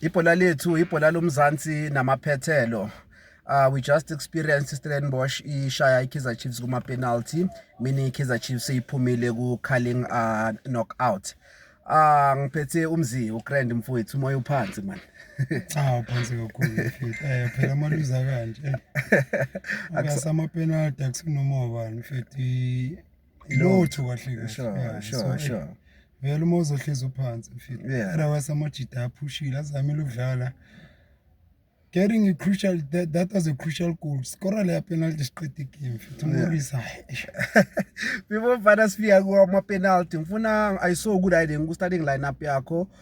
ibhola lethu ibhola lomzansi namaphethelo uh, we just experienced Stellenbosch ishaya iKaizer Chiefs kuma penalty meaning iKaizer Chiefs iphumile ku calling uh, knockout Ah uh, ngiphethe umzi uGrand mfowethu umoya uphansi man. Cha uphansi kakhulu mfethu. Eh phela amaluza kanje. Akusama penalty akusinoma ubani mfethu lutho kahle kahle Sure, Yeah, sure, so, eh, sure. vele uma uzohlezi uphansi mfethu Yeah. otherwise amajita aphushile azamile ukudlala getting a crucial that, that was a crucial goal skora leya penalty siqeda igame mfethu Yeah. umorris hayi eish. before mfana sifika kuwamapenalty ngifuna i saw ukuthi hayi le ku-starting lineup yakho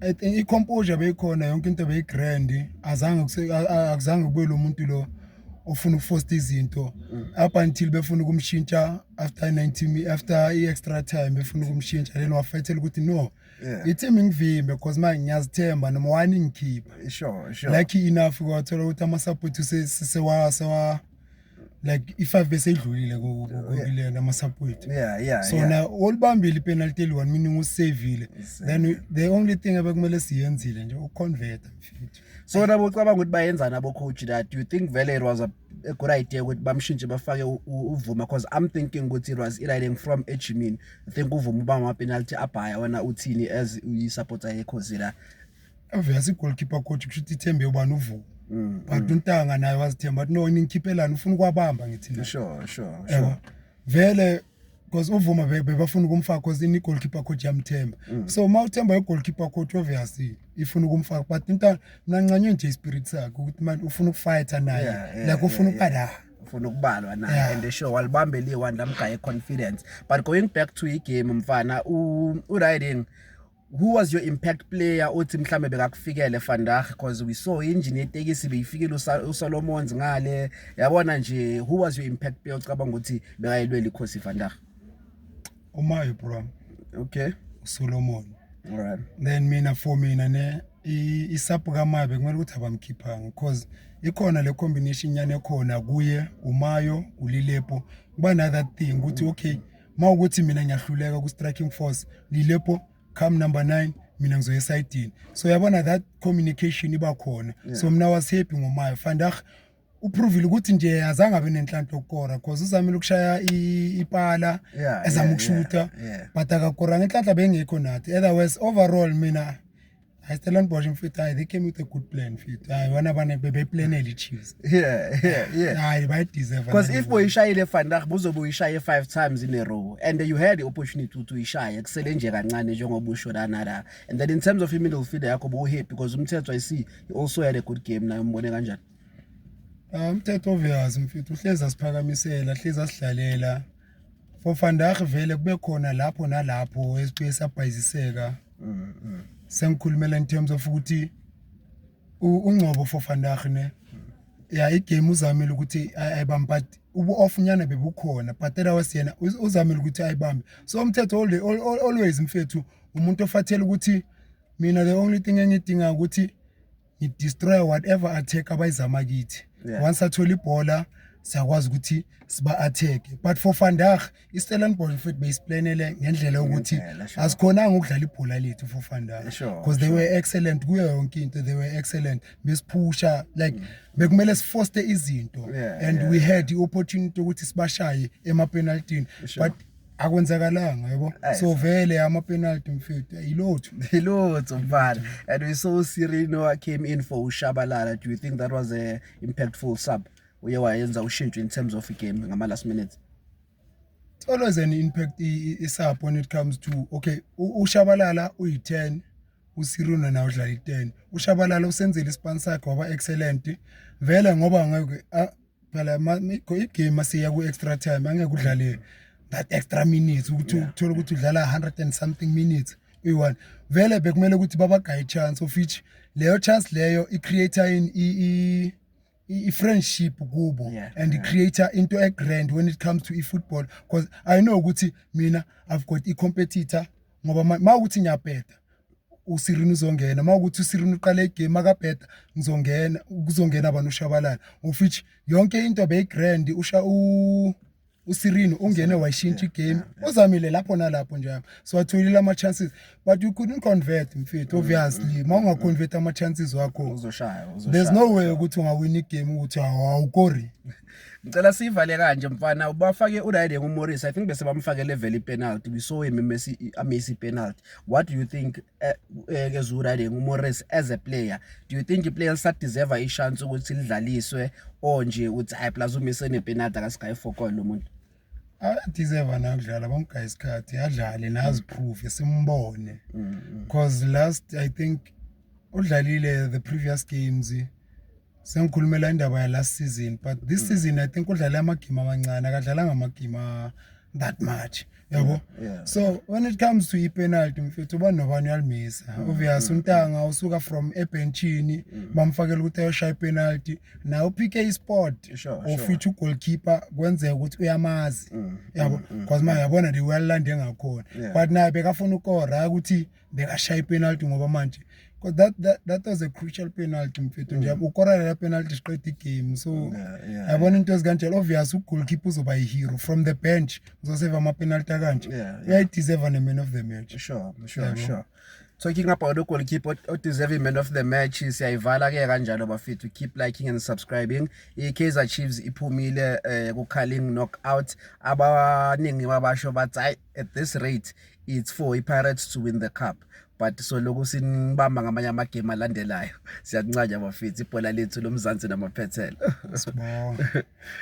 I think i-composure beyikhona yonke into beyi-grand azange kuse- a- a- akuzange kube lo muntu lo ofuna ukufosta izinto up until befuna ukumshintsha after 90 mi- after i-extra time befuna ukumshintsha then wafethela ukuthi no Yeah. ithi mingivimbe because manje ngiyazithemba noma wani ngikhipha Sure, sure. lucky enough kwathola ukuthi ama-support use- sewa- sewa- like i-5 bese idlulile kokilena ama-support yeah, yeah, so yeah. na olibambile ipenalty eli-one meaning usavile then the only thing abekumele siyenzile nje ukuconverta so nabo ucabanga ukuthi bayenzani abocoach la do you think vele it was a, a good idea ukuthi bamshintshe bafake uvuma because i'm thinking ukuthi it was eliling from ejimini i think uvuma uba amapenalty abhaya wena uthini as uyi-supporter yekhozi la avese igoalkeeper coach kusho ukuthi ithembe ubani uvuko mm, but mm. untanga naye wazithemba athi no ningikhiphelani ufuna ukwabamba ngithi la sure sure sure vele because uvuma bebafuna ukumfaka because ini goalkeeper coach yamthemba mm. so uma uthemba igoalkeeper coach obviously ifuna ukumfaka but intana mina ngincanywe nje ispirit sakhe ukuthi manje ufuna ukufighter naye like ufuna ukubala ufuna ukubalwa naye yeah. and sure walibambe liye wandamgaye confidence but going back to igame mfana u, u riding who was your impact player othi mhlambe bekakufikele Vandag because we saw engine yetekisi beyifikile uSolomons ngale yabona nje who was your impact player ocabanga ukuthi bekayelwela ikhosi Vandag umayo bro okay uSolomon all right then mina for mina ne isapu kamabe kumele ukuthi abamkhiphanga because ikhona le combination nyane khona kuye umayo ulilepo kuba another thing ukuthi okay uma ukuthi mina ngiyahluleka ku-striking force lilepho come number nine mina ngizoya esayidini so yabona that communication iba khona yeah. so mna was happy ngomayo fandah uprovile ukuthi nje azange abe nenhlanhla okukora cause uzamile ukushaya ipala yeah, ezama yeah, ukushutha yeah, yeah. but akakoranga inhlanhla bengekho nathi otherwise overall mina I still on Bosch mfethu hayi they came with a good plan mfethu hayi bona bane bebeplanela iChiefs yeah yeah yeah hayi bayideserve because if boyishayile Van Dijk buzobe uyishaye 5 times in a row and you had the opportunity ukuthi uyishaye kusele nje kancane njengoba usho lana la and then in terms of middle field yakho bo happy because umthetho i see he also had a good game naye umbone kanjani ah, umthetho obvious mfethu uhlezi asiphakamisela hlezi asidlalela For Van Dijk vele kube khona lapho nalapho esiqike sabhayiziseka. Mm, mm. Sengikhulumela in terms of ukuthi ungcobo for Van Dijk ne. Yeah, igame uzamile ukuthi ayibambe but ubu-off nyana bebukhona but that was yena uzamile ukuthi ayibambe. So umthetho always mfethu umuntu ofathela ukuthi mina the only thing engidinga ukuthi ngidestroya whatever attack abayizama kithi yeah. once athola ibhola siyakwazi ukuthi siba-atheke but for fandag istellenbosch mfethu beyisiplanele ngendlela yokuthi asikhonanga ukudlala ibhola lethu for fandag because they were excellent kuyo yonke into they were excellent besiphusha like mm. bekumele sifoste izinto and we had i-opportunity yokuthi sibashaye emapenaltini but akwenzakalanga yabo so vele ama penalty mfethu yilotho yilotho mfana and we saw Sirino came in for ushabalala do you think that was a impactful sub uye wayenza ushintsho in terms of game ngama last minutes it's always an impact isub when it comes to okay ushabalala uyi 10 usiruna nawo udlala i-10 ushabalala usenzile isipani sakhe waba excellent vele ngoba ngeke phela igame asiya ku-extra time angeke udlale that extra minutes ukuthi uthole ukuthi udlala 100 and something minutes uyi-one vele bekumele ukuthi babagaye i-chance of which leyo chance leyo i-creator in i-friendship kubo yeah, and yeah. i-creator into e-grand when it comes to i-football because i know ukuthi mina i've got i-competitor ngoba uma ukuthi ngiyabheda usirini uzongena uma ukuthi usirini uqala igame akabheda ngizongena kuzongena abantu ushabalala of which yonke into beyigrand usha usirini ungene wayishintsha igame uzamile lapho nalapho njalo so atholile ama-chances but you couldn't convert mfethu obviously uma ungaconvert ama-chances wakho there's no way ukuthi ungawina igame ukuthi awukori ngicela siyivale kanje mfana ubafake uride ngumorris i think bese bamfakele vele ipenalty we saw him messi amesi penalty what do you think eh, eh, ke zuride ngumorris as a player do you think iplayers sa deserve i chance ukuthi lidlaliswe or nje uthi hayi plus umise ne penalty ka sky fokol lo muntu adeserve na ukudlala bamgaya isikhathi adlale nazi proof esimbone mm, mm. because last i think udlalile the previous games sengikhulumela indaba yalast season but this mm. season i think udlale amagame amancane akadlalanga amagame that much yabo yeah. so when it comes to ipenalty mfethu uba nobani uyalimisa mm. obvious mm. untanga usuka from ebenchini mm. bamfakela ukuthi ayoshaya ipenalty naye uphike isport ofitha ugoalkeeper kwenzeka ukuthi uyamazi yabo because ma yabona the wayalilande ngakhona but naye bekafuna ukora ukuthi bekashaya ipenalty ngoba manje because that, that, that was a crucial penalty mfethu nje mm. ukorela la penalty siqeda igame so yabona into ezikanjalo obvious ugoalkeeper uzoba yi-hero from the bench uzoseva amapenalty akanje uyayideserva ne-man of the match sure sure sure so kicking up our goalkeeper odeserve man of the match siyayivala ke kanjalo bafethu keep liking and subscribing i-kaizer chiefs iphumile um eh, ku-carling knockout abaningi babasho bathi at this rate it's for iPirates to win the cup but so lokhu sinibamba ngamanye amagame alandelayo siyakuncanya bafethu ibhola lethu lomzansi namaphethelo sibonga